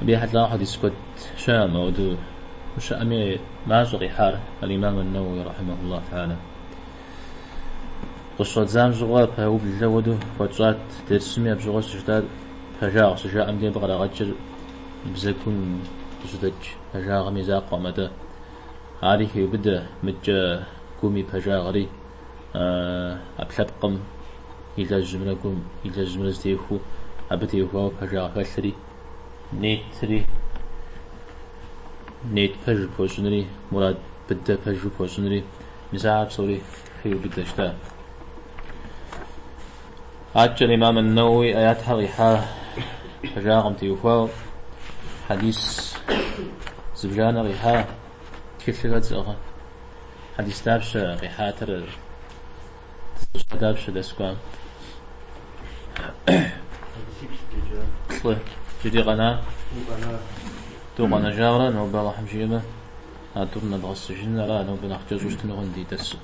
Абы ехьэлӏауэ хьэдис куэд щыӏэкъым, ауэдэу щыӏэми мащӏэ къихьар аль-имам ан-Науауи рахьимахуллаху тахьаля. Къыщӏэдзам щыгъуэ пэублэу ауэдэу хуэтщӏат, дерсми абы щыгъуэ щыжытӏат пэжагъ щыжаӏэм дей абы кърагъэкӏыр бзэгум къыщыдэкӏ пэжагъым и закъуэкъым атӏэ. Ари хеубыдэ, мыдкӏэ гум и пэжагъри. ӏэпкълъэпкъым илэжьымрэ гум илэжьымрэ зэтехуэу абы теухуауэ пэжагъ хэлъри, нетри, нет пэжу пхуэщӏынри, мурад быдэ пэжу пхуэщӏынри, мис ахэр псори хеубыдэ. Аткӏэ имам Науауи аятхэр къихьа пэжагъым теухуауэ, хьэдис зыбжанэ къихьа, Тхылъыр хэт зыӏыгъ? Хьэдис дапщэ къихьатыр? Дызыщӏа дапщэ дэскӏуам? Хьэдисиплӏ джэджа. Плӏы. Джыри къэна? Тӏу къэна. Тӏу къэнэжауэ ара, нобэ Алыхьым жиӏэмэ, а тӏур нэдгъэсыжын, ара нобэ нэхъ кӏэщӏу щытыну хъунщ ди дерсыр.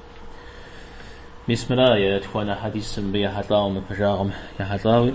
Мис мыра етхуанэ хьэдисыр мыбы ехьэлӏауэ мы пэжагъым ехьэлӏауи.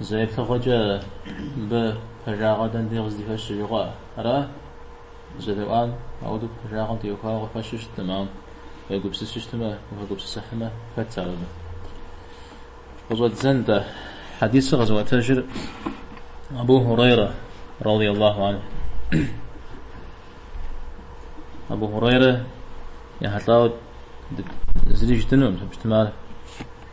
Зэ еплъыгъуэкӏэ, мыбы пэжагъэр дэнэ дей къыздыхэщыр жыхуаӏэ ара? Зэреӏуам, ауэдэу пэжагъэм теухуауэ къыхэщу щыткъым, ауэ уегупсысу щытмэ, ухэгупсысыхьмэ, хэтщ ар абы. Къыщӏэддзэн-тӏэ, хьэдисыр къызыӏуэтэжыр Абу Хурейрэ, радий Аллаху анху. Абу Хурейрэ ехьэлӏауэ зыри жытӏэнукъым, щытмэ ар.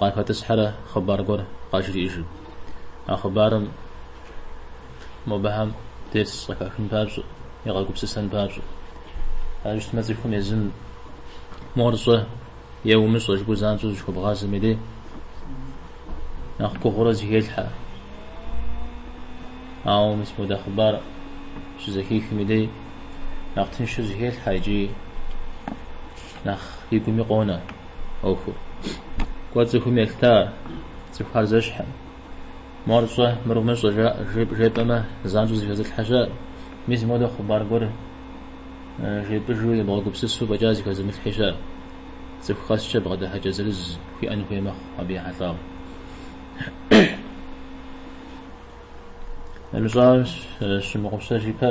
Къахэтӏысхьэрэ хъыбар гуэр къажриӏыжым. А хъыбарым мобэхэм дерс къыхахын папщӏэ, егъэгупсысэн папщӏэ. Ар щытмэ цӏыхум езым мор щӏэ е умыщӏэ жыпӏэу занщӏэу зыщыхуэбгъазэм и дей нэхъ гугъурэ зыхелъхьэ. Ауэ мис модэ хъыбар щызэхихым и дей нэхъ тыншу зыхелъхьэ икӏи Нэхъ и гуми къонэ ӏуэхур. Куэд цӏыхум елъыта ар, цӏыхухэр зэщхькъым. Мор щӏэ, мыр умыщӏэ жаӏэ, жепӏэмэ, занщӏэу зыхэзылъхьэ щыӏэ. Мис модэ хъыбар гуэр жепӏыжу, ебгъэгупсысу фӏэкӏа зыхэзымылъхьи щыӏэ. Цӏыху къэскӏэ бгъэдыхьэкӏэ зырыз хуиӏэн хуей мэхъу абы ехьэлӏауэ. Нэмыщӏауэ, сщымыгъупщэж ипэ.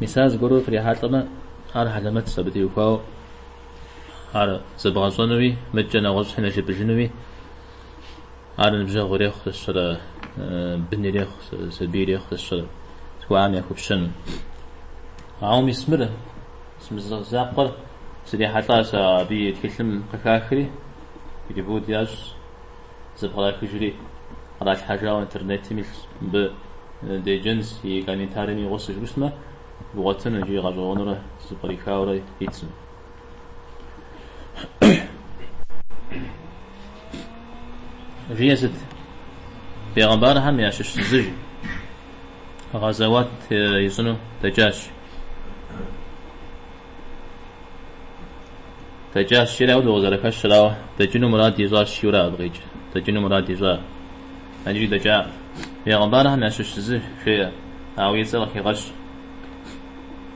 Мисал зыгуэрурэ фрихьэлӏэмэ, ар хьэлэмэтщ абы теухуауэ ар зэбгъэщӏэнуи, мыдкӏэ нэгъуэщӏхэм яжепӏэжынуи. Ар ныбжьэгъу ирехъу сэ сщӏэрэ, бын ирехъу, сабий ирехъу сэ сщӏэрэ тхуаӏэм яхуэпщӏэну. Ауэ мис мыр, зэ мызакъуэрэ срихьэлӏа сэ абы, е тхылъым къыхахри, перевод ящӏ. Зэпкърахыжри, къралъхьэжауэ интернетым илъщ. Мыбы деджэнщ и комментарием и гъусэу жыпӏэщтмэ, бгъуэтын икӏи гъэщӏэгъуэнурэ зыпкърихаурэ ит сым. Жиӏэр сыт? Бегъэмбархэм ящыщ зы, жи, гъэзэуат ищӏыну дэкӏащ. Дэкӏащ жери ауэдэу къызэрыхэщра, ауэ дэкӏыну мурад ищӏа жиӏэу ара абы къикӏ. Дэкӏыну мурад ищӏа, иджыри дэкӏакъым. Бегъымбархэм ящыщ зы жеӏэ, ауэ и цӏэр къыхигъэщ.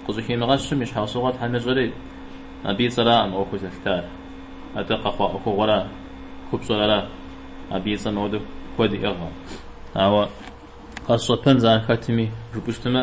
Къыщӏыхимыгъэщым и щхьэусыгъуэр Тхьэм ещӏэри, абы и цӏэракъым ӏуэхур зэлъытар. Атӏэ къэхъуа ӏуэхугъуэра, купщӏэр ара, абы и цӏэм ауэдэу куэд иӏыгъкъым. Ауэ къэсщӏэпэнущ ар хэтми, жыпӏэщтмэ,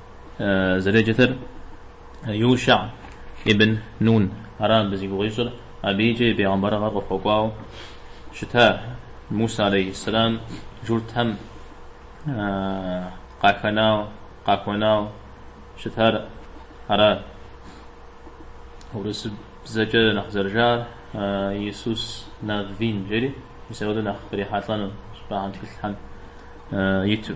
зэреджэтыр Юшъа ибн Нун ара абы зи гугъу ищӏыр, абыикӏэ и пегъэмбэрыгъэр къыхуэкӏуау щыта Муса алейхьэссэлам джуртхэм къахэнау къахуэнау щытар ара урысыбзэкӏэ нэхъ зэрыжаӏэр Иисус Наввин жери, мис апхуэдэу нэхъ кърихьэлӏэну щӏыпӏэхьэм тхылъхьэм иту.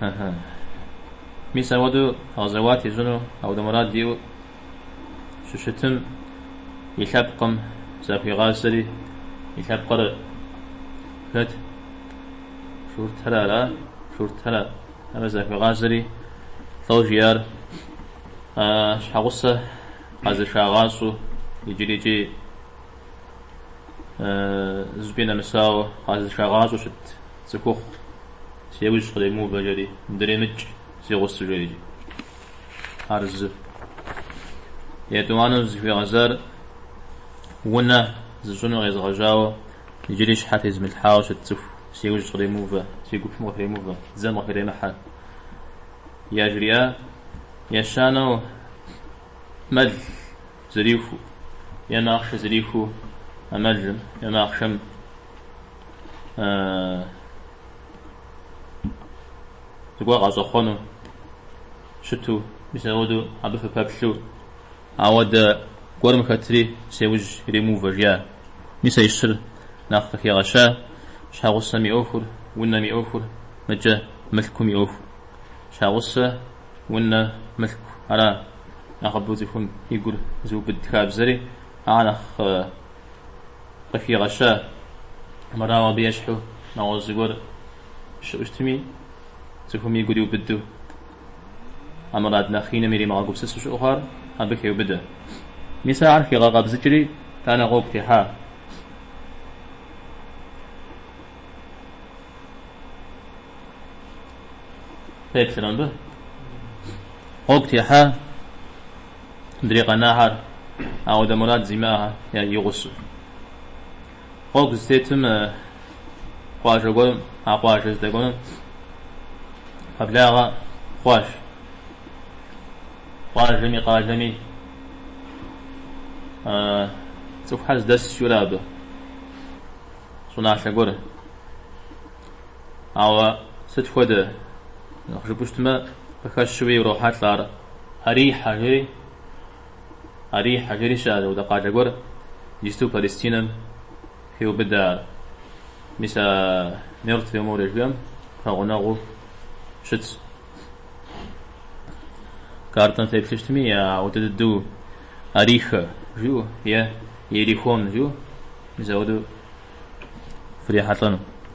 Ага. Мис ауэду гъэзэуат ищӏыну ауэду мурад иӏэу щыщытым и лъэпкъым захуигъазэри, и лъэпкъыр хэт? Журтхэр ара? Журтхэр ара захуигъазэри, лӏо жиӏар, а щхьэгъусэ къэзышагъащӏэу иджырикӏи зыкӏи нэмысауэ къэзышагъащӏэу щыт. Цӏыхухъу, сеужь къремыувэ жери, дремыкӏ, си гъусэ, жеӏэри. Ар зы. Етӏуанэу зыхуигъэзар унэ зыщӏыну къезыгъэжьауэ, иджыри щхьэ тезымылъхьауэ щыт цӏыху, сеужь къремыувэ, си гупым къыхремыувэ, дзэм къыхремыхьэ. Яжриӏа, ещанэу мэл зэрихуэу, е махъшэ зэрихуэу а мэлым, е махъшэм. зыгуэр къащӏэхъуэну щыту мис ауэду абы фыпэплъу ауэдэ гуэрым хэтри сеужь ремыувэ жиӏэ. Мис а и щыр нэхъ къыхигъэща щхьэгъусэм и ӏуэхур, унэм и ӏуэхур, мыкӏэ мылъкум и ӏуэхур. Щхьэгъусэ, унэ, мылъку, ара нэхъыбэу цӏыхум и гур зыубыд хабзэри, ар нэхъ Къыхигъэща мырауэ абы ещхьу нэгъуэщӏ зыгуэр щыӏу щытми, цӏыхум игур иубыду, а мурад нэхъ иным иримыгъэгупсысу щыӏу хъуар абы хеубыдэ. Мис ахэр хигъэкъэбзыкӏри, итӏанэ гъуэгу техьа? Къеплърэ мыбы? Гъуэгу техьа? Мыдрей къэнахэр ауэдэ мурад зимыӏэ игъусэу. Гъуэгу зытетым къуажэ гуэрым, а къуажэ здэкӏуэнум пэблагъэ хъуащ. Къуажэми къалэми цӏыхухэр здэсщурэ абы щӏыналъэ гуэрым. Ауэ сыт хуэдэ нэхъ жыпӏэу щытмэ, къыхэщуи урохьэлӏэ ар, Арихьэ жери. Арихьэ жери щыӏэщ апхуэдэ къалэ гуэр, иджысту Палестинэм хеубыдэ ар. Мис а Мертвое море жиӏэм пэгъунэгъуу щытщ. Картэм феплъу щытми, ауэдэ дыдэу Арихэ жиӏэу е Иерихон жиӏэу, мис ауэдэу фрихьэлӏэну.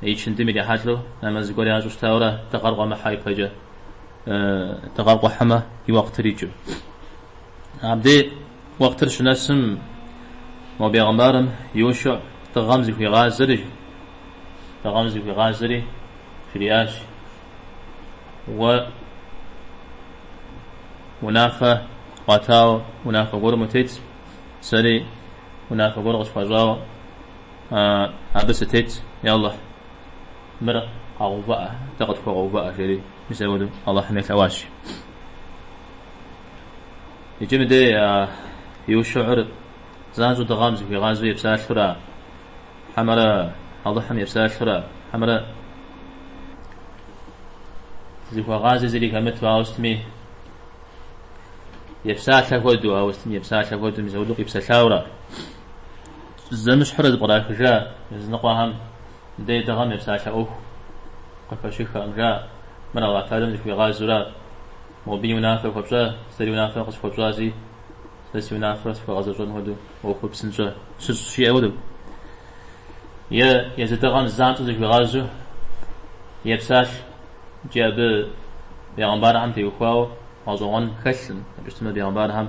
Икындым ирихьэлӏэу нэмэз зыгуэр ящӏу щытауэрэ дыгъэр къуэмыхьэ ипэкӏэ. Дыгъэр къухьэмэ, и уэкътыр икӏыу. Абдей уэкътыр щынэсым, мо бегъымбарым Юшэӏ дыгъэм зыхуигъазэри, дыгъэм зыхуигъазэри жриӏащ, Уэ унафэ къуатауэ унафэ гуэрым утет, сэри унафэ гуэр къысхуащӏауэ, Абы сытет, е Алыхь, мыр къэгъэувыӏэ, дэ къытхуэгъэувыӏэ, жери мис апхуэдэу Алыхьым елъэӏуащ. Иджы мыдэ Юшэӏыр занщӏэу дыгъэм зыхуигъазэу епсалъэура, хьэмэрэ Алыхьым епсалъэура, хьэмэрэ зыхуэгъази зыри хэмыту, ауэ сытми епсалъэ хуэдэу, ауэ сытми епсалъэ хуэдэу мис апхуэдэу къипсэлъаура? Зэмыщхьурэ зыпкърахыжа языныкъуэхэм дей дыгъэм епсалъэ ӏуэху къыхэщыххэм жа, мыр Алыхь Тэхьэлам зыхуигъазэура? Мобыи унафэ хуэпщӏа? Сэри унафэ къысхуэпщӏащи, сэ си унафэр схуэгъэзэщӏэн хуэдэу ӏуэхур псынщӏэ сщыщӏ жиӏэ хуэдэу? Е езы дыгъэм занщӏэу зыхуигъазэу епсалъэ икӏи абы бегъымбархэм теухуауэ гъэщӏэгъуэн хэлъым, абы щытмэ бегъымбархэм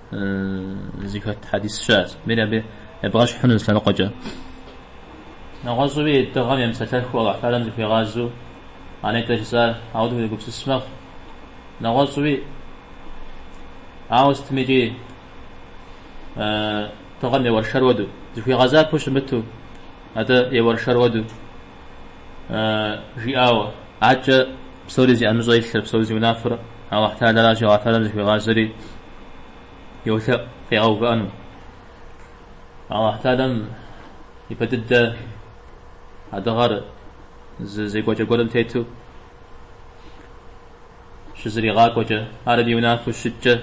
Зыхэт хьэдис щыӏэщ. Мери абы ебгъэщхь хъуну зы лъэныкъуэкӏэ. Нэгъуэщӏуи дыгъэм емыпсэлъэхыу Аллахь Талэм зыхуигъазэу а нетӏэ жысӏар ауэдэу уегупсыс мэхъу. Нэгъуэщӏуи, ауэ сытым икӏи дыгъэм еуэршэр уэду, зыхуигъэзапэу щымыту, атӏэ еуэршэр уэду. жиӏауэ, аткӏэ псори зи ӏэмыщӏэ илъыр, псори зи унафэр Алыхь Талэращи, Алыхь Талэм зыхуигъазэри йолъэӏу къигъэувыӏэну. Алыхь Талэм и пэ дыдэ а дыгъэр зы зекӏуэкӏэ гуэрым тету щызригъакӏуэкӏэ, ар абы и унафэу щыткӏэ,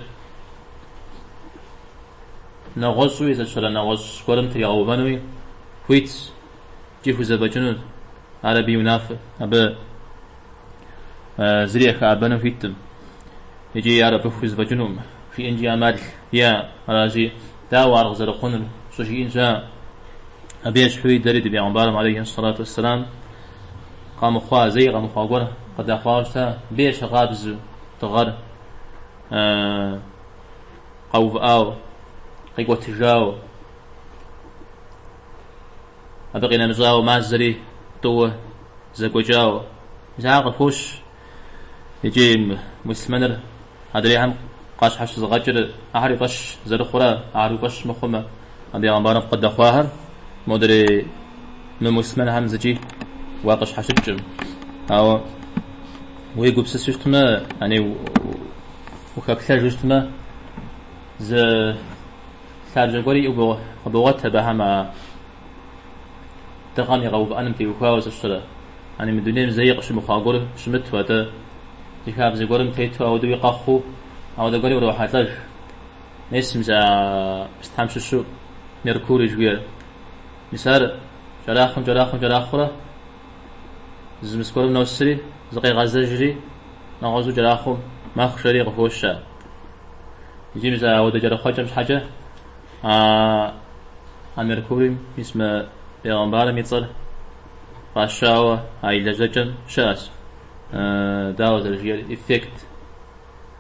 нэгъуэщӏуи зэщэрэ нэгъуэщӏ гуэрым тригъэувэнуи хуитщ. икӏи хузэфӏэкӏынущ ар абы и унафэщ. Абы зыри яхэӏэбэну хуиткъым икӏи ар абы хузэфӏэкӏынукъым жиӏэнкӏи ӏэмал иӏэ. Аращи, дауэ ар къызэрыхъунур щӏыжиӏын щыӏэ? Абы ещхьуи дэри ди Бегъымбарым алейхи сэлату уэсселам къэмыхъуа, зэи къэмыхъуа гуэр къыдэхъуауэ щыта, абы ещхьыркъабзу дыгъэр къэувыӏауэ, къикӏуэтыжауэ. Абы къинэмыщӏауэ мазэри тӏууэ зэгуэкӏауэ. Мис ахэр къыхощ икӏи муслъмэныр адрейхэм къащхьэщызыгъэкӏыр ахэр и фӏэщ зэрыхъура ахэр уи фӏэщ мыхъумэ, абы бегъымбарым къыдэхъуахэр модрей мымуслъмэнхэм зыкӏи уакъыщхьэщыкӏкъым. Ауэ уегупсысу щытмэ, ани ухэплъэжу щытмэ, зы Лъабжьэ гуэри къыбогъуэт абыхэм а дыгъэм и къэувыӏэным теухуауэ зыщырэ. Ани мы дунейм зэи къыщымыхъуа гуэр щымыту, атӏэ зы хабзэ гуэрым тету ауэдэуи къэхъуу, ауэдэ гуэри урохьэлӏэж. Мис мис а пстам щыщу Меркурий жыхуиӏэр, мис ар кӏэрахъуэм-кӏэрахъуэм кӏэрахъуэурэ, Зы мест гуэрым носри, зыкъегъэзэжри, нэгъуэщӏу кӏэрахъуэм мэхъу жери къыхощ. Икӏи мис ауэдэ кӏэрэхъуэкӏэм щхьэкӏэ а а Меркурийм мис мы бегъымбарым и цӏэр фӏащауэ а и лэжьэкӏэм щыӏэщ, дауэ зэрыжиӏэр, эффект.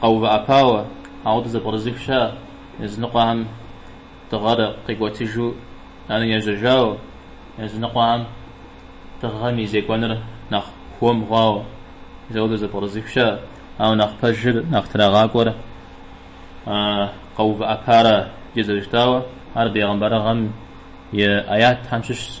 къэувыӏэпауэ, ауэдэ зэпкърызыхыу щыӏэ, языныкъуэхэм дыгъэр къикӏуэтыжу ар ежьэжауэ, языныкъуэхэм дыгъэм и зекӏуэныр нэхъ хуэм хъуауэ, ауэдэ зэпкърызыхыу щыӏэ, ауэ нэхъ пэжыр, нэхъ трагъакӏуэр къэувыӏэпара, икӏи зэрыщытауэ, ар бегъымбарыгъэм и аятхэм щыщщ.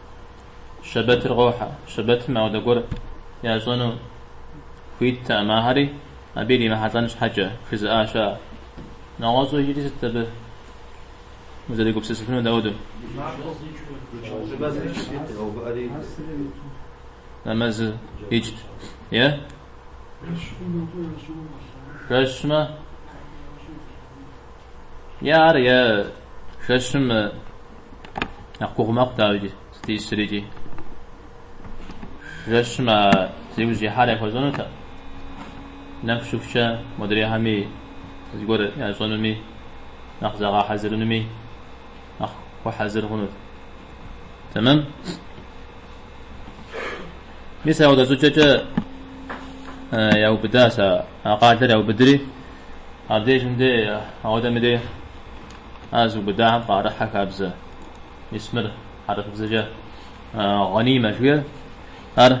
Щэбэтыр къохьэ. Щэбэтым апхуэдэ гуэр ящӏэну хуиттэкъым, ахэри абы иримыхьэлӏэн щхьэкӏэ, жызыӏа щыӏэщ. Нэгъуэщӏу иджыри сыт абы узэригупсысыфынур дауду? Нэмэзыр икӏт, е? Жэщмэ? Е ар, е жэщым нэхъ гугъу мэхъу, дауикӏи, сытисрикӏи. Жэщым а зи ужь ихьар яхуэщӏэнутэкъым. Нэху щыхукӏэ модрейхэми зыгуэр ящӏэнуми, нэхъ зэгъэхьэзырынуми нэхъ хуэхьэзыр хъунут. Тэмэм? Мис ауэдэ щӏыкӏэкӏэ яубыдащ а къалэр, яубыдри, Абдежым де, ауэдэми де, а зыубыдахэм къарыхьэ хабзэ исмыр хьэрыфыбзэкӏэ гъанимэ жиӏэр, ар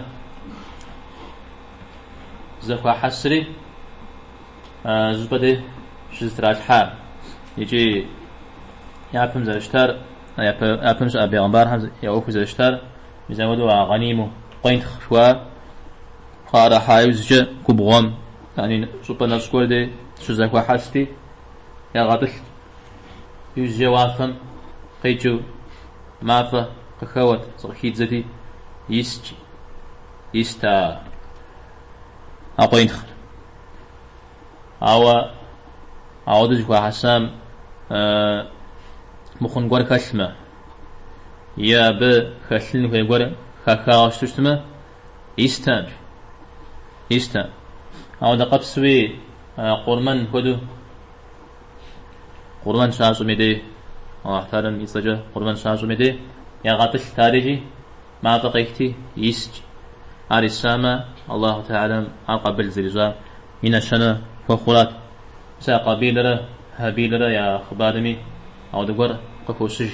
зэхуахьэсри зы щӏыпӏэ де щызэтралъхьа икӏи япэм зэрыщытар, япэм щыӏэ бегъымбархэм я ӏуэхур зэрыщытар мис апхуэдэу а гъаниму къуентхъ жыхуаӏэр къарыхьа иужькӏэ губгъуэм Яни. Щӏыпӏэ нэщӏ гуэр дей щызэхуахьэсти, ягъэтӏылът. Иужькӏэ уафэм къикӏыу мафӏэ къыхэуэт, зыкъыхидзэти, искӏ, ист а къуентхъыр. Ауэ ауэдэ зэхуахьэсам мыхъун гуэр хэлъмэ, е абы хэлъын хуей гуэр хахауэ щыту щытмэ, Истэкъым. Истэкъым. Ауэдэ къабзэу Къурмэн хуэдэу. Къурмэн щащӏми дей, Аллахь Тэӏалэм и цӏэкӏэ Къурмэн щащӏми дей, ягъэтӏылът арикӏи, мафӏэ къехти, искӏ. Ар исамэ, Аллахь Тэӏалэм ар къабыл зэрищӏа и нэщэнэ хуэхъурат. Мис а Къабилрэ Хьэбилрэ я хъыбарми ауэдэ гуэр къыхощыж.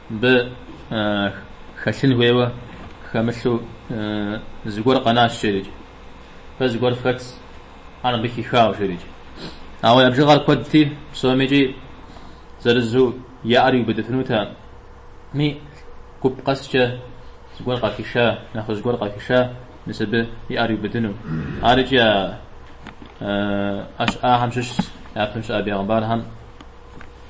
Мыбы хэлъын хуейуэ хэмылъу зыгуэр къэнащ, жерикӏ. Фэ зыгуэр фхэтщ, ар мыбы хихауэ, жерикӏ. Ауэ я бжыгъэр куэдти, псомикӏи зырызу я ӏэр иубыдыфынутэкъыми, гуп къэскӏэ зыгуэр къахиша, нэхъыжь гуэр къахиша, мис абы и ӏэр иубыдыну. Арыкӏи ящӏахэм щыщщ, япэм щыӏэ бегъымбархэм.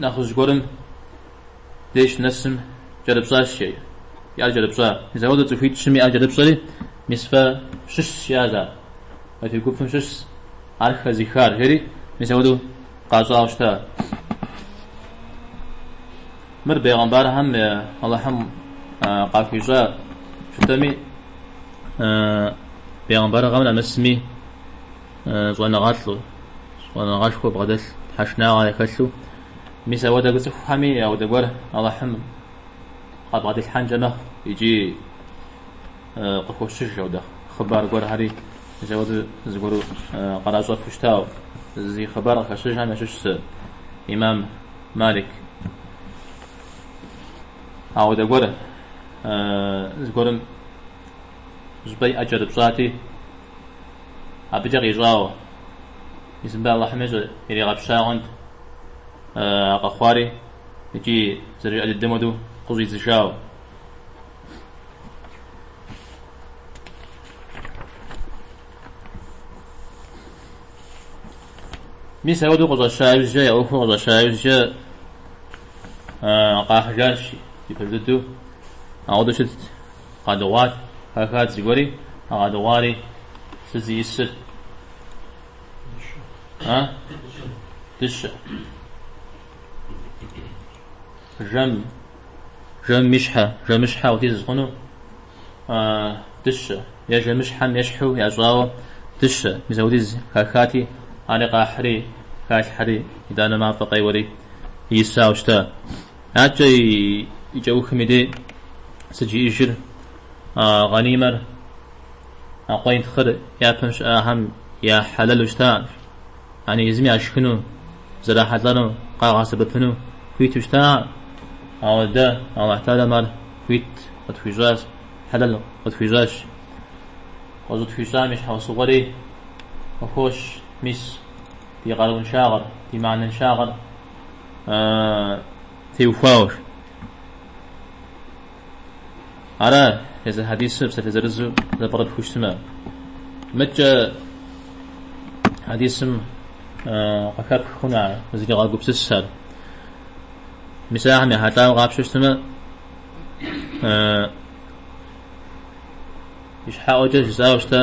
нэхъыжь гуэрым деж нэсым кӏэрыпщӏащ, жеӏэ. И ӏэр кӏэрыпщӏа. Мис ауэдэу цӏыхуитӏщым и ӏэр кӏэрыпщӏэри, мис фэ щыщ жиӏащ ар. Фэ фи гупым щыщ ар хэзыхар, жери мис ауэдэу къащӏауэ щыта. Мыр бейгъэмбархэм Алыхьым къахуищӏа щытми, бейгъэмбархэм нэмысми щӏэныгъэлӏу, щӏэныгъэшхуэ бгъэдэлъу тхьэшынагъэ яхэлъу. Мис ауэдэ цӏыхухэми ауэдэ гуэр Алыхьым къабгъэдилъхьэнкӏэ мэхъу икӏи къыхощыж ауэдэ хъыбар гуэрхэри. Мис ауэдэу зыгуэру къаращӏэфу щытауэ зи хъыбар къыхэщыжхэм ящыщщ Имам Малик. Ауэдэ гуэр зыгуэрым щӏыпӏэ и ӏэ кӏэрыпщӏати, абыкӏэ къищӏауэ, Исымбэ Алыхьым ищӏу иригъэпщагъэнт а къэхъуари икӏи зэрыжиӏэ дыдэм хуэдэу къыщӏидзыжауэ. Мис ауэдэу къыщӏэща иужькӏэ, я ӏуэхур къыщӏэща иужькӏэ къахьыжащ, и пэж дыдэу ауэдэу щытт. Къадыгъуат, хахат зыгуэри, къадыгъуари, сыт зиӏысыр? А? Дыщэ. Жэм, жэм и щхьэ, жэмыщхьэ хуэдиз хъуну, дыщэ, е жэмыщхьэм ещхьу ящӏауэ дыщэ, мис ауэдиз хахати, ари къахьри, халъхьэри, итӏанэ мафӏэ къеуэри исауэ щыта. Аткӏэ и кӏэухым и дей сыт жиӏэжыр а гъанимэр а къуентхъыр япэм щыӏахэм я хьэлэлу щытаӏым, яни езым яшхыну, зэрахьэлӏэну, къагъэсэбэпыну хуиту щытаӏым, ауэ дэ Алахь Тӏалэм ар хуит къытхуищӏащ, хьэлэл къытхуищӏащ. Къыщӏытхуищӏам и щхьэусыгъуэри къыхощ, мис, ди къарууншагъэр, ди мыхьэнэншагъэр. теухуауэщ. Ара езы хьэдисыр псалъэ зырызу зэпӏэрыпхыу щытымэ. Мыкӏэ хьэдисым къыхэпх хъуну узригъэгупсысыр. Мис ахэм ехьэлӏауэ къапщтэу щытымэ, ищхьэӏуэкӏэ жысӏауэ щыта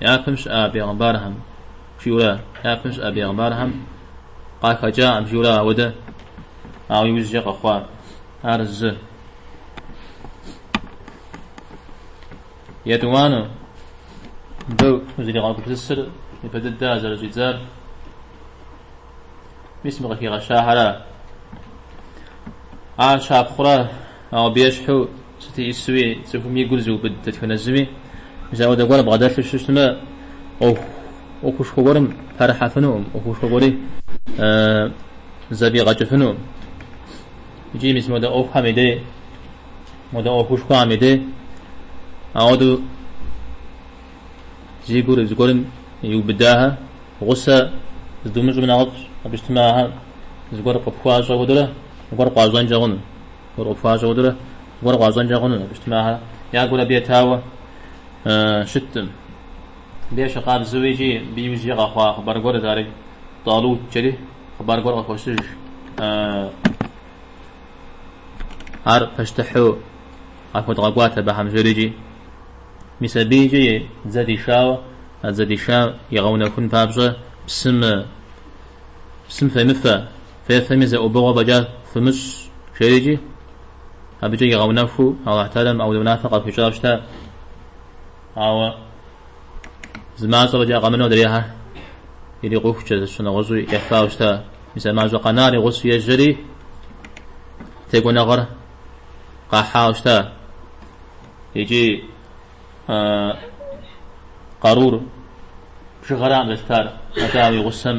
япэм щыӏа бегъымбархэм жиурэ япэм щыӏа бегъымбархэм къахэкӏакъым жиурэ ауэдэ ауэ иужькӏэ къэхъуа ар зы етӏуанэу мыбы узригъэгупсысыр мыбы дыдэ зэрыщӏидзар мис мы къыхигъэщахэра ар щапхъурэ ауэ абы ещхьу Сыту исуи, цӏыхум и гур зыубыд дэтхэнэ зыми, зы ауэдэ гуэр бгъэдэлъу щытмэ, ӏуэху, ӏуэхушхуэ гуэрым пэрыхьэфынукъым, ӏуэхушхуэ гуэри зэфӏигъэкӏыфынукъым. Икӏи мис модэ ӏуэхухэм и дей, модэ ӏуэхушхуэхэм и дей ауэдэу зи гур зыгуэрым иубыдахэр гъусэ здумыщӏым нэхъыфӏщ, абы щытмэ ахэр зыгуэр къыпхуащӏэ хуэдэурэ зыгуэр къуащӏэнкӏэ хъуну. Гуэр къыпхуащӏэ хуэдэурэ зыгуэр къуащӏэнкӏэ хъуну, абы щытмэ ахэр я гур абы етауэ щытым. Абы ещхькъабзэу икӏи абы иужьи къэхъуа хъыбар гуэрт, ари Тӏалут жери хъыбар гуэр къыхощыж. Ар пащтыхьу къахуэдгъэкӏуат абыхэм жери икӏи. Мис абы икӏи и дзэ дишауэ, а дзэ дишам игъэунэхун папщӏэ псым псым фемыфэ, Фефэми зы ӏубыгъуэ фӏэкӏа фымыщӏ, жери икӏи, абыкӏэ игъэунэхуу Алыхь Тэхьэлам ауэдэ унафэ къахуищӏауэ щыта. Ауэ зы мащӏэ фӏэкӏа къэмынэу адрейхэр ирикъухукӏэ, зыщагъэнщӏу ефауэ щыта. Мис а мащӏэ къэнар и гъусэу ежьэри, текӏуэныгъэр къахьауэ щыта икӏи къарур бжыгъэракъым зэлъытар, атӏэ ауэ и гъусэм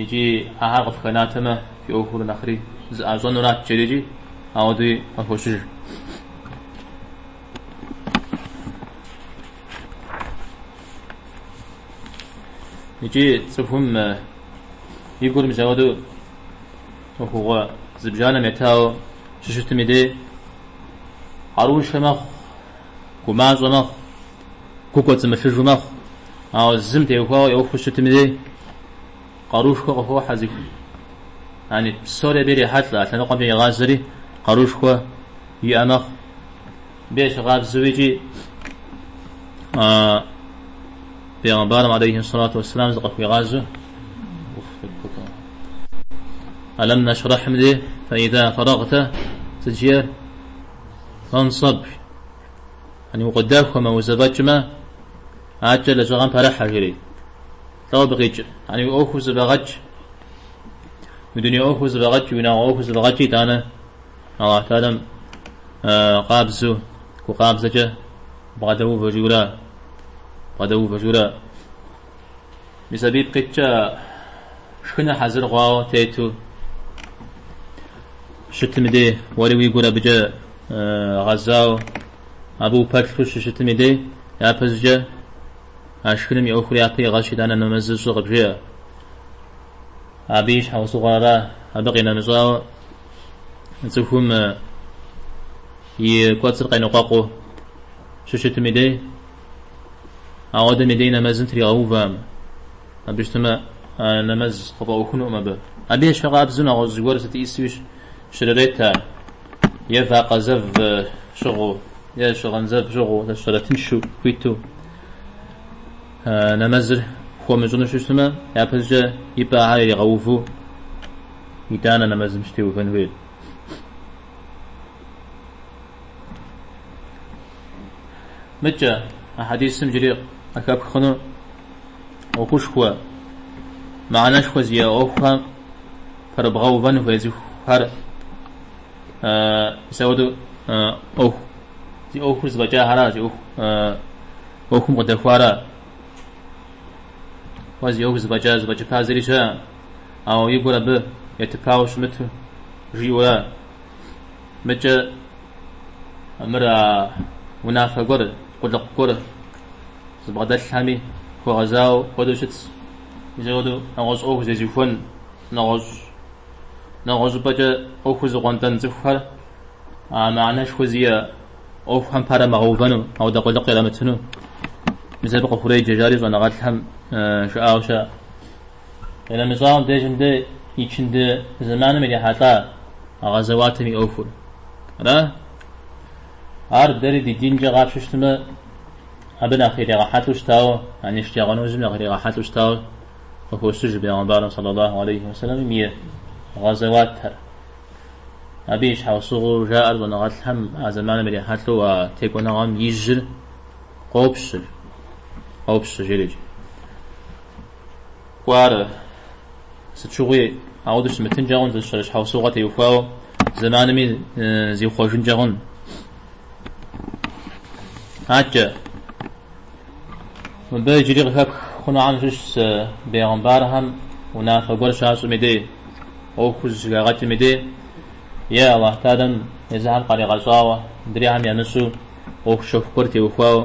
Икӏи ахэр къыфхэнатэмэ, фи ӏуэхур нэхъри зэӏащӏэнурат жери икӏи, ауэдэуи къыхощыж. Икӏи цӏыхум и гур мис ауэдэу ӏуэхугъуэ зыбжанэм етауэ щыщытым и дей къаруншэ мэхъу, гумащӏэ мэхъу. Гу кӏуэцӏымылъыжу мэхъу, ауэ зым теухуауэ еухыу щытым и дей, къарушхуэ къыхохьэ зыху. Яни, псори абы ирехьэлӏэ, а лъэныкъуэмкӏэ игъазэри къарушхуэ иӏэ мэхъу. Абы ещхькъабзэу икӏи Пейгъэмбарым алейхи сэлату уассалам зыкъыхуигъазэу Алам нэшрэхьым дей, фаида фэрэгътэ здыжиӏэр фансаб. Яни укъыдэхуэмэ, узэфӏэкӏмэ, акӏэ лэжьыгъэм пэрыхьэ, жери. Лӏо абы къикӏ? Яни уи ӏуэхур зэфӏэгъэкӏ. Уи дуней ӏуэхур зэфӏэгъэкӏ, уи унагъуэ ӏуэхур зэфӏэгъэкӏ, итӏанэ Алыхь Тэхьэла къабзу, гу къабзэкӏэ бгъэдэувэ жиӏэу ара, бгъэдэувэ жиӏэу ара. Мис абы ипкъыткӏэ шхыныр хьэзыр хъуауэ тету щытым и дей, уэри уи гур абыкӏэ гъэзауэ, абы упэплъу щыщытым и дей, япэщӏыкӏэ а шхыным и ӏуэхур япэ игъэщи итӏанэ нэмэзыр щӏы къыбжеӏэ. Абы и щхьэусыгъуэр ара, абы къинэмыщӏауэ цӏыхум и кӏуэцӏыр къеныкъуэкъуу щыщытым и дей, Ауэдэм и дей нэмэзым тригъэувам. Абы щытымэ, а нэмэз къыфӏэӏуэхунукъым абы. Абы ещхьу къабзэу нэгъуэщӏ зыгуэр сыт ӏисуи щрырет ар, е вакъэ зэв щыгъыу, е щыгъын зэв щыгъыу, зэщӏэрэ тыншу, хуиту нэмэзыр хуэмыщӏыну щыщытмэ, япэщӏыкӏэ и пӏэ ахэр иригъэуву, итӏанэ нэмэзым щытеувэн хуейр. Мыкӏэ, а хьэдисым джыри къыхэпх хъуну ӏуэхушхуэ, мыхьэнэшхуэ зиӏэ ӏуэхухэм пэрыбгъэувэн хуей цӏыхухэр мисауэдэу ӏуэху зи ӏуэхур зэфӏэкӏахэра, зи ӏуэху ӏуэхум къыдэхуара, уэ зи ӏуэху зэфӏэкӏа, зэфӏэкӏыпа зыри щыӏэ, ауэ и гур абы етыпауэ щымыту жиӏэу ара. Мыкӏэ мыр а унафэ гуэр, къулыкъу гуэр зыбгъэдэлъхэми хуэгъэзауэ хуэдэу щытщ. Мисауэдэу нэгъуэщӏ ӏуэху зезыхуэн, нэгъуэщӏ нэгъуэщӏ щӏыпӏэкӏэ ӏуэхур зыӏуэнтӏэн цӏыхухэр а мыхьэнэшхуэ зиӏэ ӏуэхухэм пэрамыгъэувэну, ауэдэ къулыкъу ирамытыну мис абы къыхуреджэ жари щӏэныгъэлӏхэм жаӏауэ щыӏэ. Нэмыщӏауэм дежым дэ ичынды зэманым ирихьэлӏа гъэзэуатэм и ӏуэхур ара? Ар дэри ди динкӏэ къапщтэу щытмэ, абы нэхъ иригъэхьэлӏэу щытауэ, яни шэджагъуэ нэужьым нэхъ иригъэхьэлӏэу щытауэ къыхощыж бегъымбарым сэллалаху алейхи уэ сэлэмым и гъэзэуатэр. Абы и щхьэусыгъуэу жаӏэр щӏэныгъэлӏхэм а зэманым ирихьэлӏэу а текӏуэныгъэм и жьыр къопщыр, къопщыжыр иджы. кӏуарэ. Сыт щыгъуи ауэдэ щымытынкӏэ хъун, зыщэрэ щхьэусыгъуэ теухуауэ зэманми зихъуэжынкӏэ хъун. Атчӏэ. Мыбы иджыри къыхэпх хъунухэм щыщ зы бегъымбархэм унафэ гуэр щащӏми дей, ӏуэхуу зыщыхагъэкӏми дей, е Аллахь Тэӏалэм езыхэм къаригъэщӏауэ, дрейхэм ямыщӏу ӏуэху щэху гуэр теухуауэ.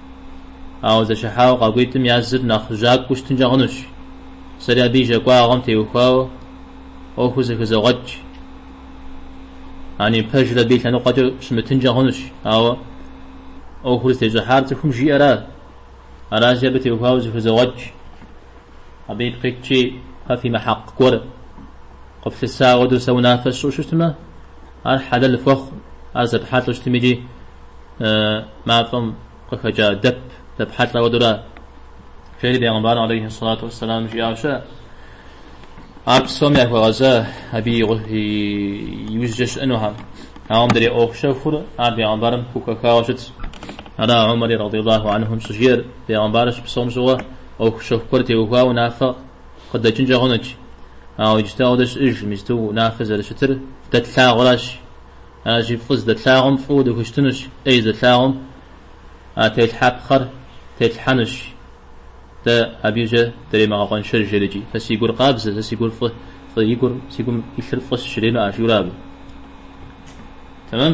Ауэ зэщыхьауэ къакӏуитӏым я зыр нэхъ жьакӏуэу щытынкӏэ хъунущ. Сэри абы и жьакӏуагъэм теухуауэ ӏуэхур зэхызогъэкӏ. Ани пэжыр абы и лъэныкъуэкӏэ щымытынкӏэ хъунущ, ауэ ӏуэхур зытещӏыхьар цӏыхум жиӏэра. Аращи абы теухуауэ зэхызогъэкӏ. Абы ипкъ иткӏи, фэ фимыхьэкъ гуэр къыфлъыса хуэдэу сэ унафэ сщӏу щытмэ, Ар хьэлэл хуэхъу, ар зэпхьэлӏэу щытмикӏи мафӏэм къыхэкӏа дэп зэпхьэлӏэ хуэдэура? жери Бегъымбарым алейхьи ссалату уэсселам жиӏауэ щыӏэ. Ар псоми яхуэгъэза абы и иужькӏэ щыӏэнухьэм. Ауэ мыдрей ӏуэху щэхур ар Бегъымбарым хухэхауэ щытщ. Ара Умари радийаллаху анхум щыжиӏэр, Бегъымбарыр щыпсэум щыгъуэ ӏуэху щэху гуэр теухуауэ унафэ къыдэкӏынкӏэ хъунуч, ауэ иджыт ауэдэ щыӏэж, мисту унафэ зэрыщытыр дэ тлъагъуращ. Аращи, фӏы здэтлъагъум фӏыуэ дыхущытынущ, ӏей здэтлъагъум а телъхьэпхъэр тетлъхьэнущ. Дэ абыкӏэ дремыгъэкъуэншэж, жерикӏи. Сэ си гур къабзэ, сэ си гур фӏы, фӏы и гур, си гум илъыр фӏыщ, жремыӏэ, жиӏурэ абы. Тэмэм?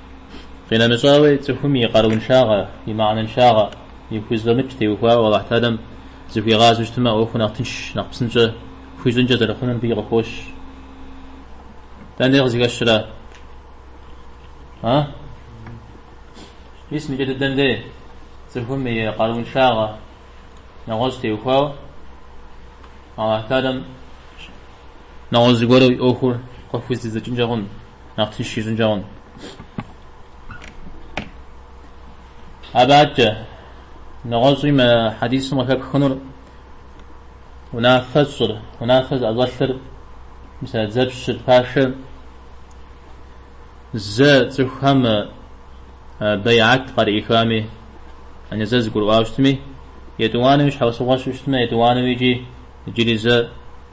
Къинэмыщӏауи, цӏыхум и къарууншагъэ, и мыхьэнэншагъэ, и хузэфӏэмыкӏ теухуауэ Алыхь Тэӏалэм зыхуигъазэу щытмэ, ӏуэхур нэхъ тынш, нэхъ псынщӏэ хуищӏынкӏэ зэрыхъунур мыбыи къыхощ. Дэнэкӏэ къызыхэщрэ? А? Мис мы кӏэ дыдэм дей, цӏыхум и къарууншагъэ, нэгъуэщӏ теухуауэ Алыхь Тэӏалэм нэгъуэщӏ зыгуэру и ӏуэхур къыхузэридзэкӏынкӏэ хъун. нэхъ тынш ищӏынкӏэ хъун. Абы адкӏэ, нэгъуэщӏи мы хьэдисым къыхэпхынур унафэщӏыр, унафэ зыӏэщӏэлъыр, мисала дзэпщыр, пашэр зэ цӏыхухэм бейат къарыӏихами, ани зэ зэгурыӏуауэ щытми, етӏуанэуи щхьэусыгъуэ щыӏэу щытмэ, етӏуанэуи икӏи иджыри зэ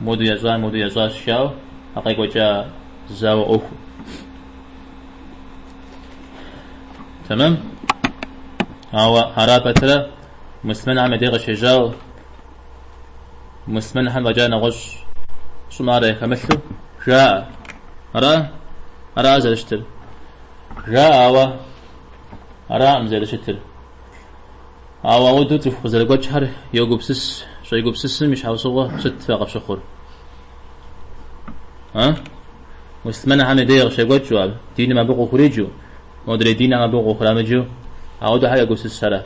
Моду ящӏар моду ящӏащ жаӏэу а къекӏуэкӏа зауэ ӏуэхур. Тэмэм. Ауэ ара пэтрэ муслъмэнхэм я деж къыщежьау муслъмэнхэм фӏэкӏа нэгъуэщӏ щӏымарэ яхэмылъу жаӏэ. Ара? Ара зэрыщытыр? Жаӏэ, ауэ араӏым зэрыщытыр. Ауэ ауэдэу цӏыху къызэрыгуэкӏхэр йогупсыс, щӏегупсысым и щхьэусыгъуэ сыт фэ къыфщыхъур? А? Муслъымэнхэм я дей къыщекӏуэкӏыу, а диным абы къыхуриджу, модрей динхэм абы къыхурамыджу ауэдэу ахэр йогупсысрэ?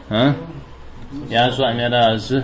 А? Я щӏэм яра зы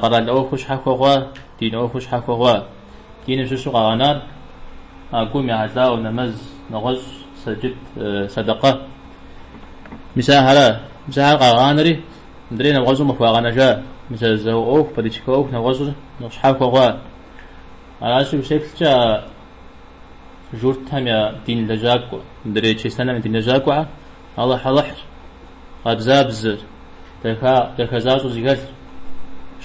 Къэрал ӏуэху щхьэхуэ хъуа, дин ӏуэху щхьэхуэ хъуа. Диным щыщу къагъэнар а гум ехьэлӏауэ нэмэз, нэгъуэщӏ, сэджыт, сэдэкъэ. Мис ахэр къагъанэри, мыдрей нэгъуэщӏым къыхуагъэнэжа мы зауэ ӏуэху, политикэ ӏуэху нэгъуэщӏыр щхьэхуэ хъуа. Аращи, усеплъкӏэ а журтхэм я дин лэжьакӏуэ, мыдрей чыристанхэм я дин лэжьакӏуэхэр, Алыхьалыхьыр, къабзабзэр, дахэ защӏэу зыхэлъыр,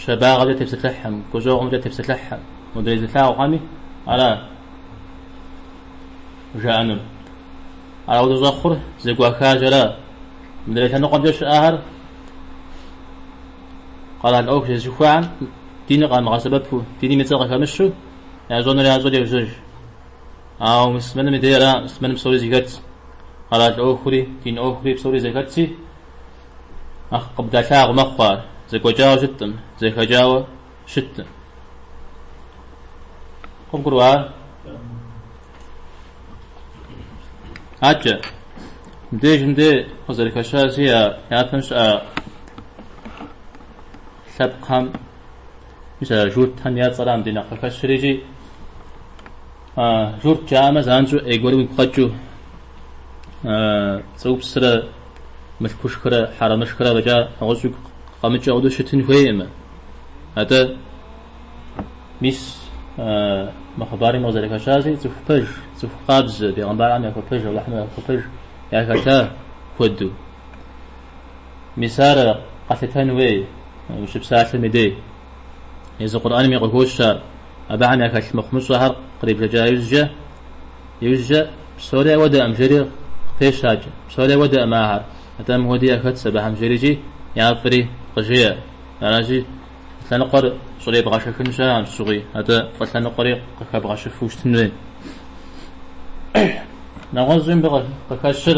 щабагъэмкӏэ тепсэлъыхьым, гущӏэгъумкӏэ тепсэлъыхьым, мыдрей зылъагъухэми ара жаӏэнур? Ара ауэдэ щӏэхъур зэгуахыжара? Мыдрей лъэныкъуэмкӏэ щыӏэхэр къэрал ӏуэху зезыхуэхэм диныр къамыгъэсэбэпу, диным и цӏэр къыхэмыщу, ящӏэнур ящӏэурэ йожьэж. Ауэ муслъымэным и дейра муслъымэным псори зэхэтщ. Къэрал ӏуэхури, дин ӏуэхури псори зэхэтщи, нэхъ къыбдалъагъу мэхъу ар. Зэгуэкӏауэ щыткъым, зэхэкӏауэ щыткъым. Къыбгурыӏуа ар? Абыкӏэ, мыбдеж мыдэ къызэрыхэщащи а япэм щыӏа лъэпкъхэм Журтхэм я цӏэра мыдэ нэхъ къыхэщыр икӏи, журт жаӏэмэ занщӏэу ӏей гуэр уигу къэкӏыу, пцӏыупсрэ мылъкушхрэ хьэрэмышхрэ фӏэкӏа нэгъуэщӏ уигу къэмыкӏыу ауэдэу щытын хуейкъым. Атӏэ мис мы хъыбарым къызэрыхэщащи цӏыху пэж, цӏыху къабзэ, бегъымбархэм яхуэпэж, Алыхьым яхуэпэж яхэта куэду. Мис ар къэлъытэн хуей ущыпсалъэм и дей. Езы Къурӏэнми къыхощ ар. Абыхэм яхэлъ мыхъумыщӏэхэр кърибжэкӏа иужькӏэ, псори ауэдэкъым, жери къыпещэж. Псори ауэдэкъым ахэр, атӏэ мыуэди яхэтщ абыхэм жерикӏи я фӏри къыжеӏэ. Аращи, лъэныкъуэр щӏребгъэшэхын щыӏэм щыгъуи, атӏэ фӏы лъэныкъуэри къыхэбгъэщыфу щытын хуей. Нэгъуэщӏи мыбы къыхэщыр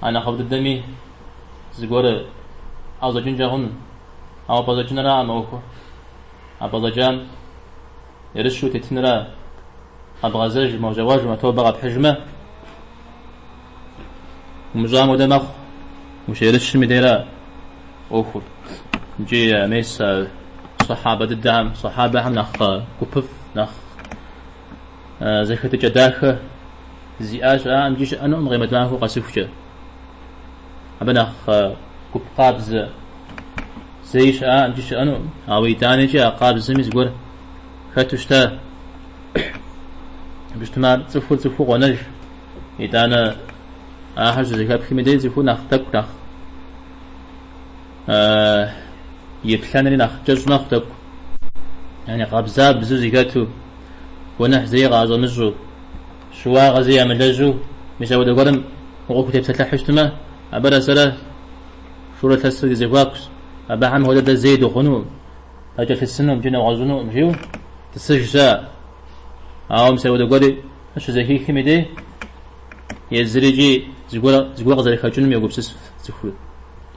А нэхъыфӏ дыдэми зыгуэр ӏэщӏэкӏынкӏэ хъуну, ауэ пӏэщӏэкӏынракъым ӏуэхур. А пӏэщӏэкӏам ерыщу утетынра, къэбгъэзэжмэ, ущӏегъуэжмэ, тобэ къэпхьыжмэ, умыщӏам хуэдэ мэхъу, ущерыщым и дейра ӏуэхур. Икӏи мес а сахьабэ дыдэхэм, сахьабэхэм нэхъ гупыфӏ, нэхъ. зэхэтыкӏэ дахэ зиӏа щыӏакъым икӏи щыӏэнукъым къемэт махуэр къэсыхукӏэ. Абы нэхъ гуп къабзэ зэи щыӏакъым икӏи щыӏэнукъым, ауэ итӏанэкӏи а къабзэми зыгуэр хэту щыта. Абы щытмэ ар цӏыхур цӏыхуу къонэж. Итӏанэ ахэр щызэхэпхым и дей цӏыхур нэхъ тӏэкӏу, нэхъ И плъэнри нэхъ кӏэщӏ мэхъу тӏэкӏу. Яни къабзабзу зэхэту, гуэныхь зэи къаӏэщӏэмыщӏу, щыуагъэ зэи ямылэжьу мис апхуэдэ гуэрым укъыхутепсэлъыхьу щытмэ, абырэ сэрэ шурэ лъэсрэ ди зэхуакущ, абыхэм хуэдэ дэ зэи дыхъуну, дакӏэлъысыну икӏи нэгъуэщӏынукъым, жиӏэу тӏысыжщ ар. Ауэ мис апхуэдэ гуэри щызэхихым и дей, езыри икӏи зыгуэр къызэрыхэкӏынум егупсысыф цӏыхур.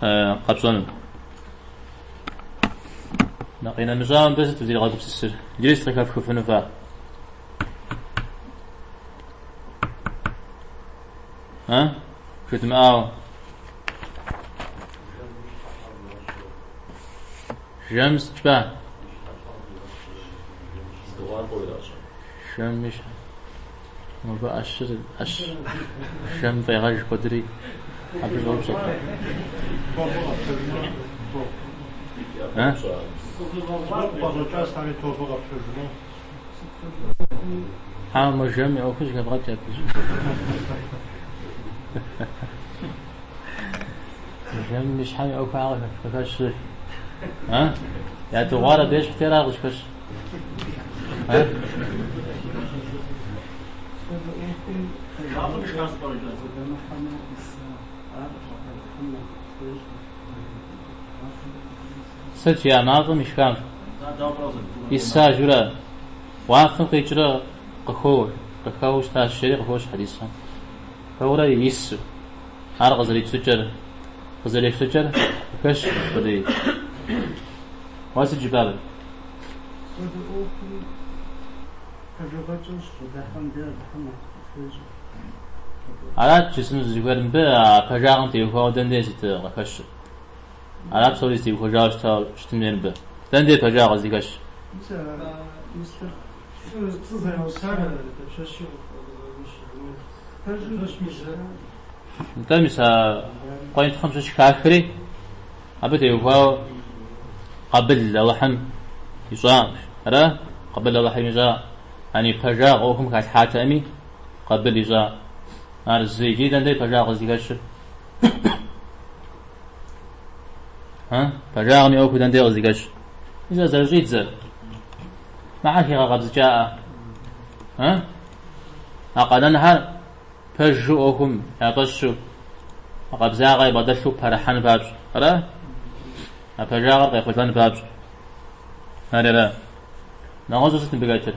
къэпщӏэну. Нэ къинэмыщӏа мыбы сыт узригъэгупсысыр? Иджыри сыт къыхэфхыфыну фэ? А? Жыдмыӏауэ. Жэм сыт жыпӏа? Жэм и щхьэ. Нобэ ӏэщыр ӏэщ жэм фӏегъэж куэдри абы щӏоупщӏэ. Ауэ мы жэм и ӏуэхур щыхэвгъэкӏ абы щӏыпӏи. Жэм и щхьэм и ӏуэхур ар къыхэщыр. Ядыгъуар абы ещхьти ара къыщӏыхэщ? Сыт жиӏа мафӏэм ишхар? Исажурэ уафэм къикӏрэ къыхоуэ, къыхэуэу щытащ, жери къыхощ хьэдисхэм. Хэурэ ису, ар къызэрипсыкӏэр, къызэрефлъыкӏэр хэщ апхуэдей. Уа сыт жыпӏар? Апхуэдэ ӏуэхум пэжыгъэкӏэу щыкъуэдэхьэм дэ Алыхьым нэхъ къыхуещӏэ. Арат жысӏэну зызыхуейр, мыбы а пэжагъым теухуауэ дэнэ сыт къыхэщыр? Ара псори зытеухуэжауэ щытауэ щытын хуейр мыбы? Дэнэ дей пэжагъ къыздыхэщ? Нтӏэ, мис а къуентхъым щыщ хахри, абы теухуауэ къабыл Алыхьым ищӏакъым. Ара къабыл Алыхьым ищӏакъым? Яни пэжагъ ӏуэхум халъхьатэкъыми, къабыл ищӏакъым. Ар зы иджыри дэнэ дей пэжагъ къыздыхэщыр? Пэжагъым и ӏуэхур дэнде къызыхэщ? Зэ зэрыщӏидзэр. Махьэ хигъэкъэбзыкӏаӏэ. А къэнэнхэр пэжу ӏуэхум яфӏэщу, а къабзагъэ ябгъэдэлъу пэрыхьэн папщӏ. Ара? А пэжагъэр къехъулӏэн папщӏ. Арера? Нэгъуэщӏу сыт мыбы хэтыр?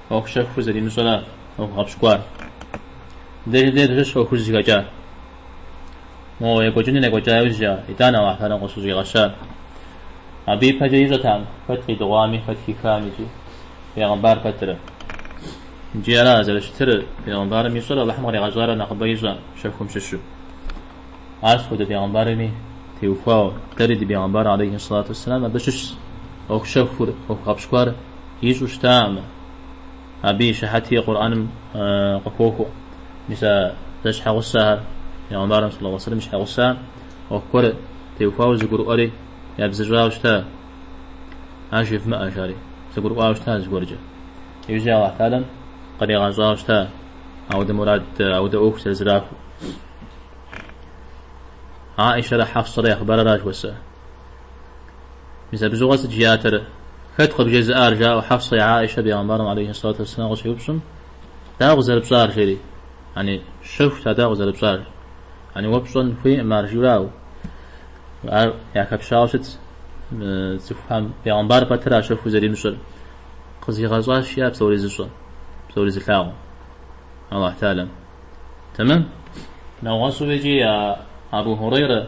ӏуэхущэхур зэримыщӏэрэ ӏуэху гъэпщкӏуар. Дежи дежи-щ ӏуэхужь зыхэкӏар. Мо екӏуэкӏынур екӏуэкӏа иужь а итӏанэ Алыхьым къыщыщӏигъэщар. Абы ипэкӏэ ищӏэтэкъым хэт къидыгъуами, хэт хихам икӏи бегъымбар пэтырэ. Икӏи ара зэрыщытыр, бегъымбарым ищӏэр Алыхьым къригъэщӏарэ нэхъыбэ ищӏэ щэхум щыщу. Апхуэдэ бегъымбарми теухуауэ, дэри ди бегъымбар алейхи сэлату уэсэлам абы щыщщ ӏуэхущэхур, ӏуэху гъэпщкӏуар. Ищӏэу щытамэ, абы и щыхьэти Къурӏэным къыхохуэ. Мис а зэ щхьэгъусэхэр, пегъэмбарым сэллаллаху алейхи ва сэллэм щхьэгъусэхэр ӏуэху гуэр теухуауэ зыгурыӏуэри, ябзыщӏауэ щыта, ар жевмыӏэ, жари, зыгурыӏуауэ щыта зыгуэркӏэ. Иужьрей Аллахь Тэхьэлам къыригъэщӏауэ щыта аудэ мурад, аудэ ӏуэху зэрызэрахуэу. Аӏишэрэ Хьэфсэрэ я хъыбарыращ уэсэ. Мис абы щыгъуэ сыт жиӏатэрэ? Хэт къыбжезыӏар? жаӏэу Хьэфсэ е Аӏишэ бегъэмбарым алейхи сэлату уэсселам къыщеупщӏым, Дауэ къызэрыпщӏар? жери. Яни, щэхут а дауэ къызэрыпщӏар. Яни, уэ пщӏэн хуейкъым ар, жиӏауэ. Ар яхэпщауэ щыт цӏыхухэм бегъэмбар пэтрэ а щэхур зэримыщӏэр. Къызигъэщӏащ жиӏа псори зыщӏэ, псори зылъагъу. Аллахь Тэхьэлам. Тэмэм? Нэгъуэщӏу икӏи я Абу Хурейрэ